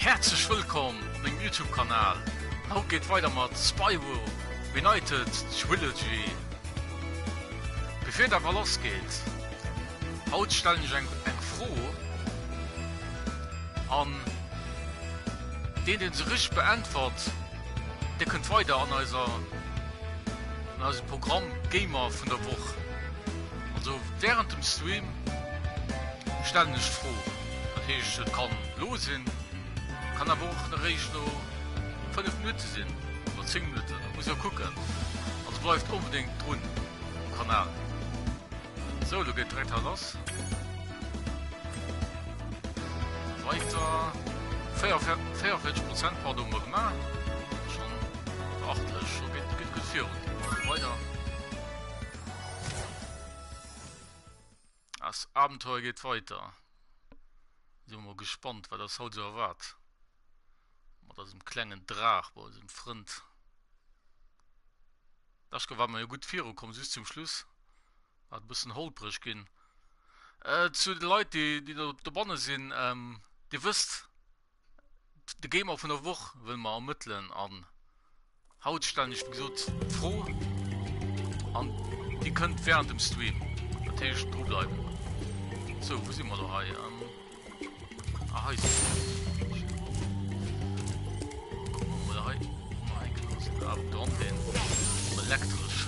Häerzlech wëllkomm op mengem Youtube Kanal. Haut geet weider mat Spyro Reunited Trilogy. Bevir et awer lass geet, haut stellen ech eng eng Fro an deen deen se richteg beäntwert dee kënnt weider an eiser an eise Programm Gamer vun der Woch. Also während dem Stream stellen ech d'Fro, dat heescht et kann lo sinn, kann awer och eréischt no 5 Minutte sinn oder 10 Minutten, dat muss der kucken. Also bleift onbedéngt drun um Kanal. Sou, lo geet direkt hei lass. Weiter. 44 Prozent pardon hun mer gemaach. Schon beachtlech, lo geet gutt virun. Weider. As Abenteuer geet weiter. Sin mol gespannt wat ass haut sou erwaart. Mat eisem klengen Draach bei eisem Frënd. Daschke war mer jo gutt viru komm, just zum Schluss war et bëssen holpreg ginn. Äh, zu de Leit déi, déi do dobanne sinn, ähm, Dir wësst, De Gamer vun der Woch wëlle mer ermëttelen an haut stellen ech wéi gesot d'Fro an Dir kënnt während dem Stream, dat heescht dru bleiwen. Sou, wou si mer do hei? Ähm, ah, hei si mer. Oder hei, hei gelassen. Ah, dran den. Elektrisch.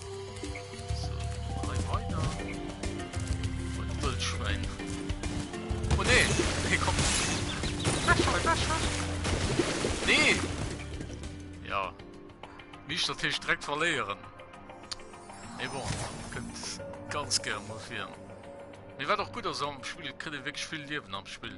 Tisch der Tisch direkt verleieren. E bon, könnt ganz gern mal fir. Mir war doch gut as am Spiel krit wirklich viel Liwen am Spiel.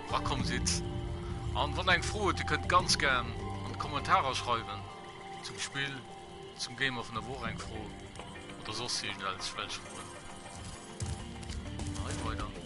Rakomm sidd. An wann der eng Fro hutt, dir kënnt ganz gären an d'Kommentarer schreiwen zum Spill, zum Game of na Woch, eng Fro oder soss iergend else welch Froen. An hei weider.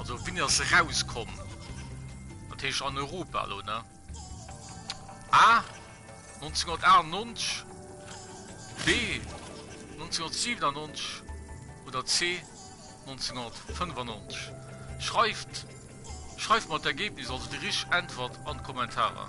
Also wéini ass se rauskomm? Dat heescht an Europa elo, ne? A, 1998, B, 1997 oder C, 1995? Schreift, schreift mer d'Ergebnis, also déi richteg Äntwert an d'Kommentarer.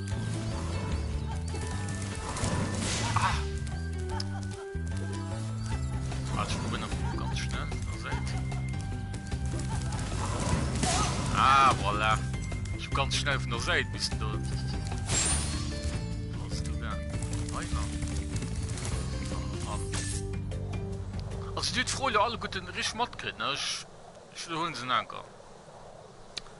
Ah, voilà. Ich hab ganz schnell von der Seite bis dort. Was du da? Weiter. Also, die Freude alle guten Risch matkriegen, ne? Ich, ich holen sie einen Anker.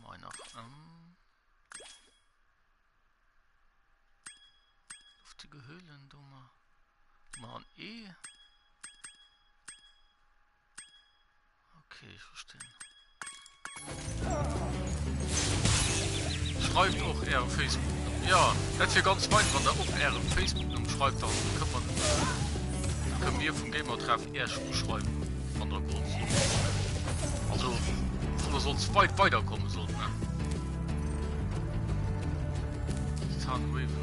Moin nach ëm. Luftige Höhlen, do ma. Ma an E. Okay, ich verstehe. Schreibt auch eure Facebook. Ja, das wäre ganz weit, wenn ihr auch eure Facebook schreibt, dann können wir, können wir vom Gamer treffen. Äerch uschreiwen wann der grad sidd. Also wann der soss weit weider kommen sollt ne. Sun Raven.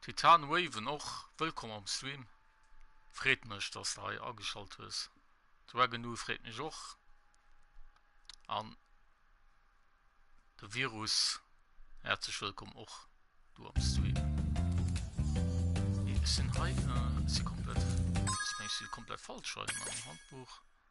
Titan Waven och wëllkomm am Stream. Freet mech dass de hei ageschalt hues. Dragonoo freet mech och an de Virus häerzlech wëllkomm och do am Stream. Ech sinn hei, si komplett, ass mengs si komplett falsch hei am Handbuch.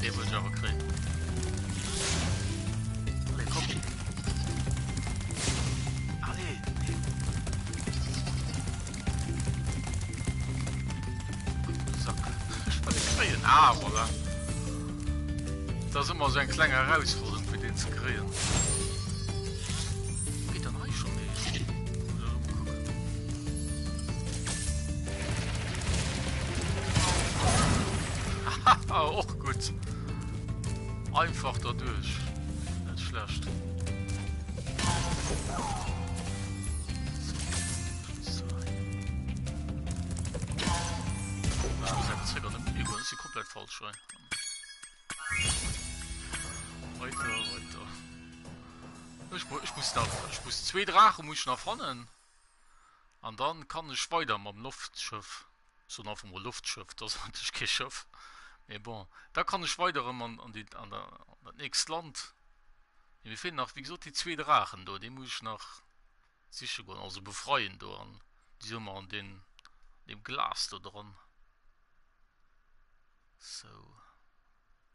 Dee muss ech awer kréien. Allez, komm. Allez. Sack. Ich wollte kréien. Ah, voilà. Das ist immer so ein kleiner Herausforderung, für den zu kriegen. Haha, och gutt. Einfach derduerch. Net schlecht. si komplett falsch rein. Weiter, weiter. Ich, ich muss da, ich muss zwei Drachen muss ich noch fannen. An dann kann ech weider mam Loftschëff, ech soen einfach mol Loftschëff, dat ass eigentlech kee Schëff, mee bon, da kann ech weider erëm an déi, an dat nächst Land. Mee mir feelen nach, wéi gesot, déi zwee Draachen do, déi muss ech nach siche goen, also befreien do. An déi soe mer an deen, deem Glas do dran. Sou.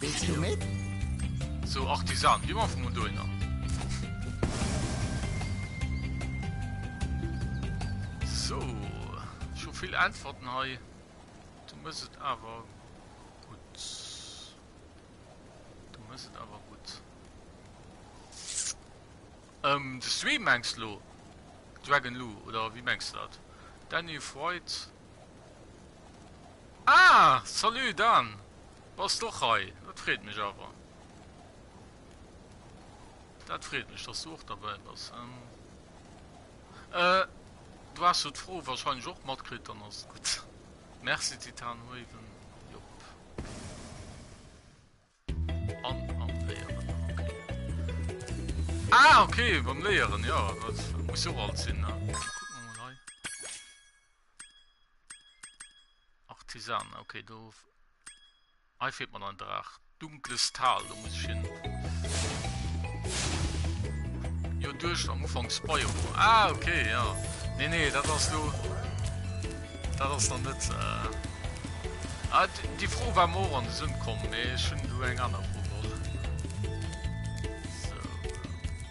Wéilst du met? So Artisan, wie man vum un dohinner. So, schon vill Äntwerten hei. Du muss et awer gut. Du muss et awer gut. Ähm, de Stream mengst lo? Dragon Lou, oder wie mengst du dat? Danny Freud, Ah! Salut Dan! Bass d'och hei? Dat freet mech awer. Dat freet mech, dass du och derbäi bass. Euh, du has jo d'Fro wahrscheinlech och matkritt, dann ass et gutt. Merci Titanraven. Jop. An, am Léieren, okay. Ah, okay, beim Léieren, jo, dat muss jo och alt sinn, ne? Artisan, okay, do hei fehlt mir noch ein Drach. Dunkles Tal, da muss ich hin. Jo, durch am Anfang Spoil. Ah, okay, ja. Nee, nee, das hast du. Das ist dann nicht. Äh ah, die Frau war morgen an den Sinn gekommen, nee, ich schon du eng andere Frau.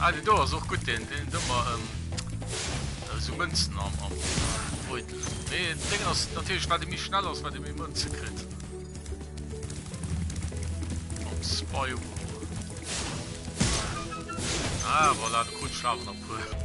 Ah, den do ass och gut den den dummer ähm, äh, so Mënzen am am Beutel. Nee, den Ding ass natürlich wat de mi schnell ass, wat de méi Mënze krit. Op Spyro. Ah, voilà, de Grund schafen am Pool.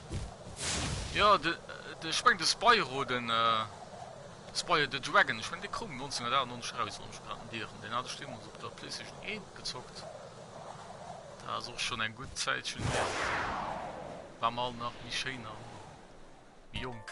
Jo, de, ech mengen de Spyro, de Spyro the Dragon, ech mengen dee koum 1998 eraus, wann ech mech net ieren. Deen hat ech deemools op der Playstation 1 gezockt, dat ass och schonn eng gutt Zäitchen hier, ware mer all nach méi schéin a méi jonk.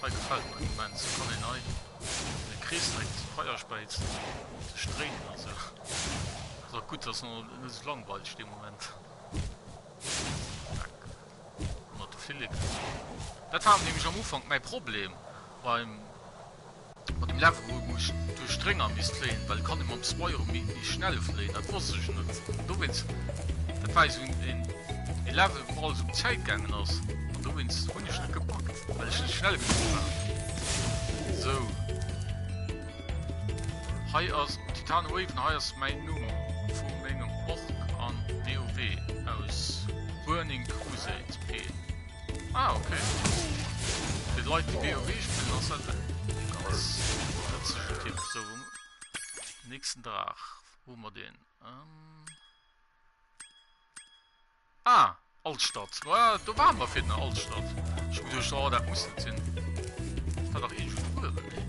Hei gefällt mer immens, do kann een hei an de Krees direkt d'Feierspeizen sech dréinen an sou. Ass och gutt dass en net sou langweileg dee Moment. Tack mat de Filleken. Dat war nämlech am Ufank mäi Problem beim. Wann dem Leveroo muss duerch d'Rénger misst fléien, well kann e mam Spyro méi schnell fléien? Dat wosst ech net. Dowéinst, dat war esou en e Level wou alles um Zäit gaangen ass an dowéinst hunn ech net gepackt, well ech net schnell genuch war. Sou, hei ass Titan Haven, hei ass mäin Numm vu mengem Ork an WoW aus Burning Crusade, P. Ah, okay. Für die Leute, die WoW spielen, das hat einen ganz witzigen Tipp. So, nächsten Tag. Wo haben wir den? Ähm ah, Altstadt. Ja, da waren wir für eine Altstadt. Ich muss durch, oh, das muss nicht sein. Das war doch eh schon früher, ne?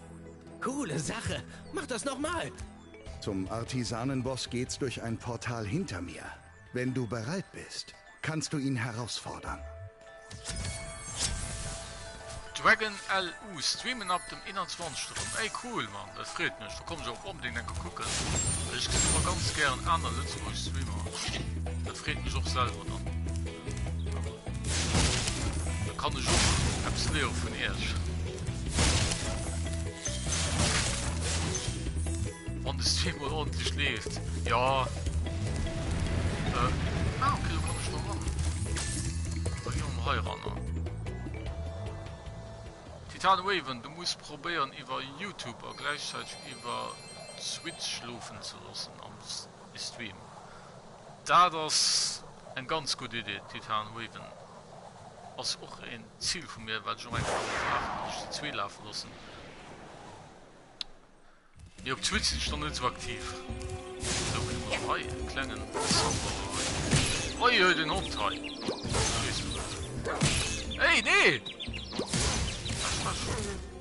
Coole Sache! Mach das noch mal! Zum Artisanenboss geht's durch ein Portal hinter mir. Wenn du bereit bist, kannst du ihn herausfordern. Dragon LU streamen ab dem 21 erëm. Ey cool Mann, dat freet mech, do kommen ech och onbedingt eng Kéier kucken. Ech gesinn ëmmer ganz gären aner Lëtzebuerg Streamer, dat freet mech och selwer dann. Kann ech och eppes léieren vun iech? Wann de Stream mol ordentlich leeft. Ja. Äh. Ah, okay, da kann ech da ran. Da gehen wir hei ran. Titan Waven, du musst probieren über YouTube a gleichzeitig über Switch laufen zu lassen am Stream. Stream. Daat ass eng ganz gudd Idee, Titan Raven ass och een Ziel vu mir waat ech och eng Kéier wollt maachen, an ech déi zwee laafen lossen. Mee op Twitch sin ech nach net sou aktiv. Sou hun ech mer och hei en klengen Soundboarder hei. Oi oi den Hond hei. Ey nee!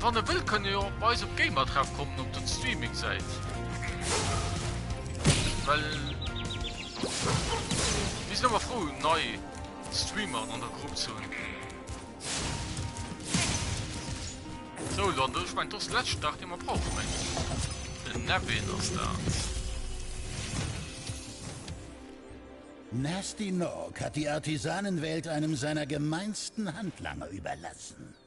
Wann e wëll kann e jo och bei eis op Gamertreff kommen op den Streaming Säit. Well mir sinn ëmmer frou nei Streamer an der Grupp ze hunn. So dann duerch mein dos letzt Dach de mat brauch meng. Den Nevin ass da. Nasty Nog hat die Artisanenwelt einem seiner gemeinsten Handlanger überlassen.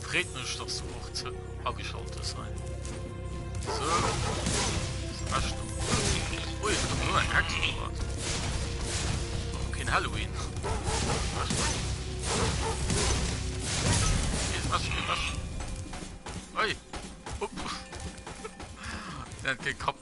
Freet mech dass du och ze ageschaltes hein. So. Ui, Ken Halloween. Oi. Op. Den Kapp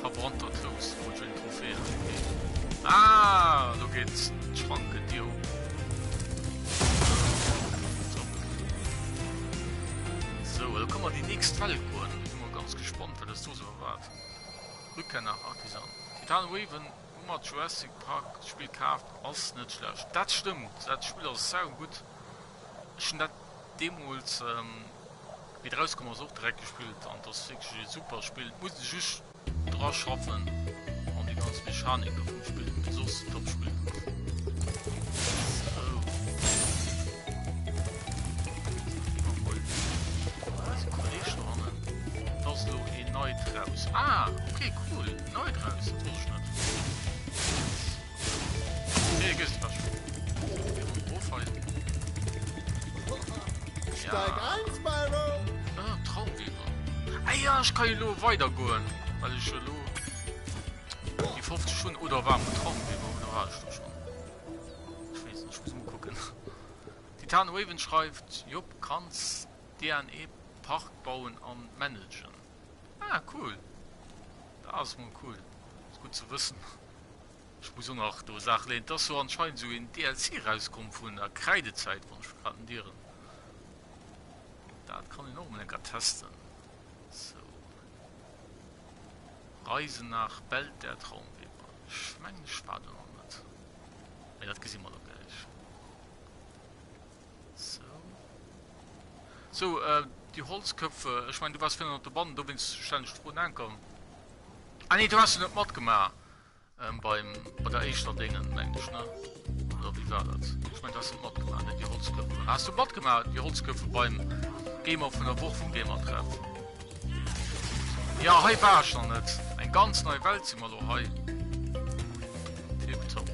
Verbrannt dat Lous, wou jo een Trophée halen geet. Aah, do geet d'Schranke Dier op. Sou, elo kann mer déi nächst Welt goen. Sinn mol ganz gespannt, wat eis do sou erwaart. Rückkehr nach Artisan. Titan Raven, hu mer Jurassic Park, d'Spill kaaft, ass net schlecht. Dat stëmmt, dat Spill ass saugutt. Ech hunn dat deemools, wéi et erauskomm ass, och direkt gespillt an et ass wierklech ee super Spill. Et muss ee just dra schaffen, an déi ganz Mechanik do vum Spill, mee soss top Spill. Ech kann lo weiter goen weil ich lo die 50 schon oder war Traum gucken Titan Raven schreibt Job kannst DNA Park bauen an managen ah, cool das cool ist gut zu wissen. Ech muss och nach do Saache léen, et ass jo anscheinend esou een DLC rauskomm vun der Kräidezäit, wann ech mech grad net ieren. Dat kann een och emol eng Kéier testen. Sou. Reise nach Belt der Traumweber. Ech mengen ech war do nach net. Mee dat gesi mer da gläich. Sou. Sou, äh, déi Holzköpfe, ech mengen du waars virun op der Bann, dowéinst stellen ech d'Fro, Nanken. Ah nee du haas net mat gemaach beim bei der eischter dengen mengt ech ne oder wie war dat ech mein du haas net mat gemaach net die holzköpfe haas du mat gemaach die holzköpfe beim gamer vun der woch vum gamer treff ja hei war schon net eng ganz nei welt si mal lo hei tipptopp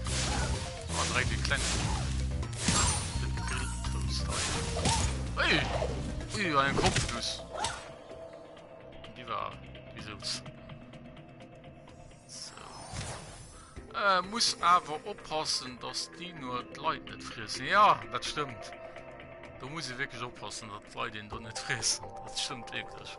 war direkt die klein ui ui ein kopf dus Gin die war wie soss. So. Äh, muss awer oppassen, dass die nur d'Leit net friessen. Ja, dat stimmt. Da muss e wirklich oppassen, dat d'Leit den do net friessen. Dat stimmt wirklich.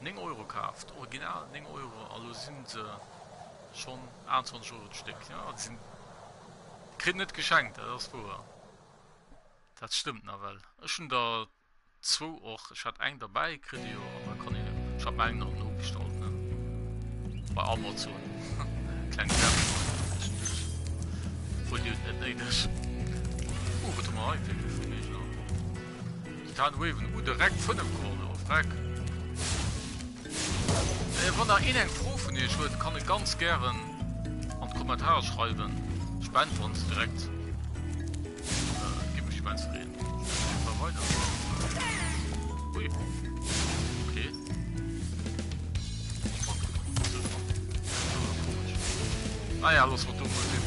9 Euro kaaft, original 9 Euro a lo sinn se schonn 28 Euro d'Stéck. Jo, déi sinn, déi kritt een net geschenkt, dat ass wouer, dat stëmmt nawell. Ech hunn der zwou och, ech hat eng derbäi kritt elo an da kann een en, ech hat mer eng nach nobestallt, ne, bei Amazon, kleng Werbung zwischendurch, obwuel déi huet net néideg. Oh, wat hu mer hei fir Information? D'Titanen huewen u direkt 5 Kornen of Reck. Wann der een eng Fro vun iech huet kann e ganz gären an d'Kommentare schreiwen. Ech beäntweren se direkt. Gidd mech immens freen. Spillt mol weider. Ui. Okay. Naja, ah loosse mer do mol sinn.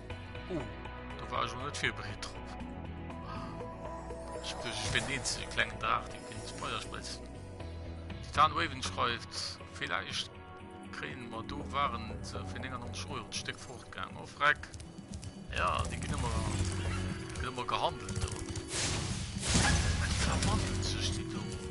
Oh, do war ech net virbereet drop. Ech duerch ech bin eens klengen Draach de kind Spoiler spritz. Titan Waven schreift vielleicht kreen mat do waren ze fir 99 Euro d'Stéck fortgang of Reck. Ja Di ginn ëmmer ëmmer gehandelt.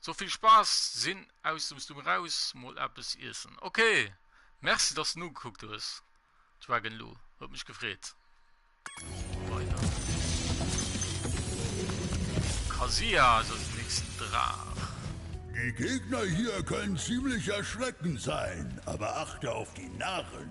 So vill Spaass, sinn aus dem Stum raus, mol eppes iessen. Ok, merci dass de nogekuckt hues Dragon Lou, huet mech gefreet. Weider. Kazuya ass als nächsten Draach. Die Gegner hier können ziemlich erschreckend sein, aber achte auf die Narren.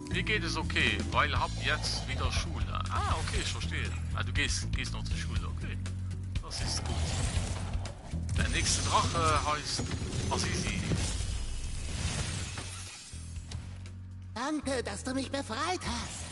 Mir geet es ok, weil hab jetzt wieder Schule. Ah ok, ech verstehen. Ah du gees gees nach zur Schule, ok. Das ist gut. Der nächste Drache heist Azizi. Danke, dass du mich befreit hast.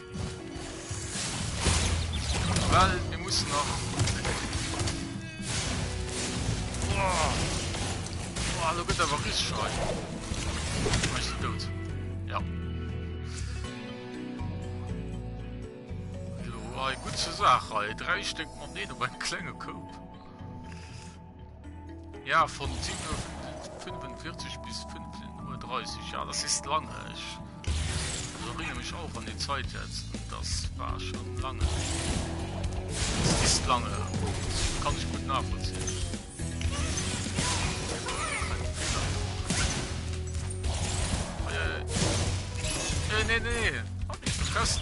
Well mir mussen nach. Boah. Boah, lo gëtt awer ris schrei. Mech si dout. Ja. Lo war e gut ze Saach, ei dräi Stéck Moneten op en klenge Koup. Ja von 7:45 bis 5:30 ja das ist lange ich erinnere mich auch an die Zeit jetzt das war schon lange das ist lange das kann ich gut nachvollziehen äh, nee, nee, nee. Hab ich vergessen.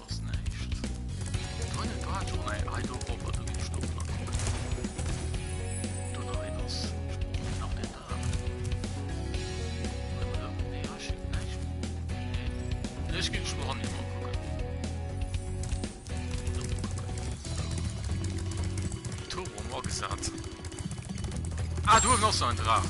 Ah, du hast noch so einen Drachen.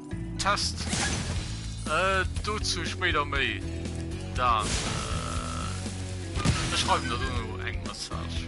Test. Dozou spéider méi. Dann ech schreiwen der dono eng Message.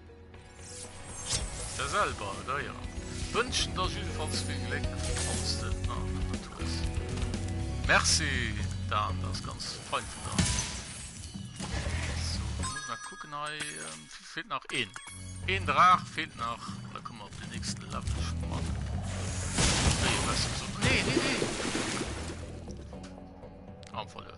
Der selwer, da jo. Wënschen der jidefalls vill Gléck, falls de nach net et hues. Merci, dat ass ganz fein vun der. Sou, muss nach kucken hei, feelt nach een. Een Draach feelt nach, da komme mer op den nächsten Level schonn. Nee, besser sou. Nee, nee, nee! Am Fall jo.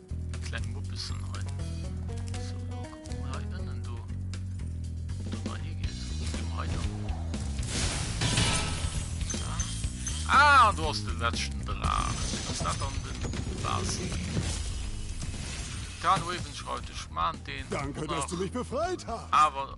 Kleng Muppessen hei. So, lo kucken mer hei ënnen do, ob dat nach higeet. Jo, hei do. Ah, an do ass de letzten Draach. Ass dat dann den Basi? Kann Raven schreibt, ech maan deen. Danke, dass du mich befreit hast. Awer.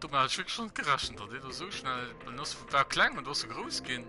Domat hat ech wierklech net gerechent, datt ee do esou schnell. En ass vu war kleng an do ass e grouss ginn.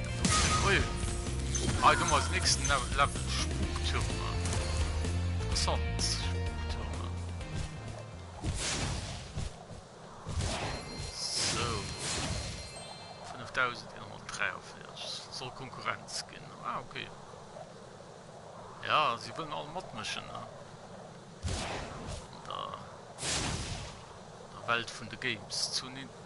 Ui, hei hu mer als nächsten Level Spuktürme. Interessant, Spuktürme. So, 5143, soll Konkurrenz ginn. Ah, ok. Ja, si wëllen all matmëschen, ne? An der Welt vun de Games. Zu Nintendo.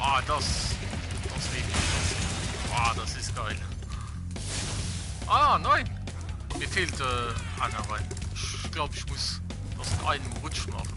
Ah, das, das lieb ich. Ah, das ist geil. Ah, nein. Mir fehlt äh, einer rein. Ich glaube, ich muss das in einem Rutsch machen.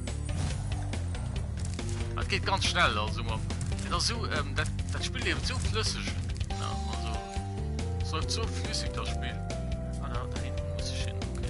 Dat geet ganz schnell also man Et ass so ähm, dat, dat Spiel eben so flësseg ja, also es läuft so flüssig das Spiel. Ah, da, da hinten muss ich hin. Okay.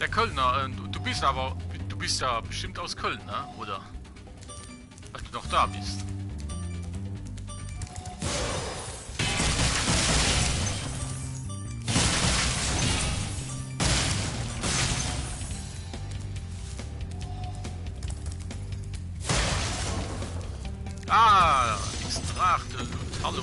Der Kölner, äh, du, du bist aber, du bist ja bestimmt aus Köln, ne? oder? Weil du doch da bist. Ah, Extrakte, hallo.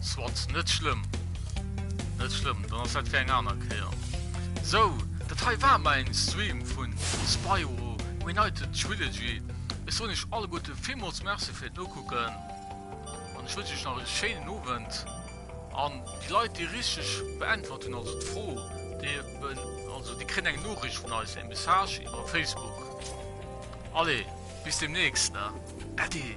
Swat, net schlëmm. Net schlëmm, dann ass dat fir eng aner Kéier. Sou, dat hei war mei en Stream vun Spyro Reunited Trilogy. Ech soen iech alleguerte villmools Merci fir d'Nokucken an ech wënschen iech nach e schéinen Owend. An déi Leit, déi richteg beäntwert hunn, also d'Fro, déi eben, also déi kréien eng Noriicht vun eis, e Message iwwer Facebook. Allez! Bis demnächst, ne Äddi!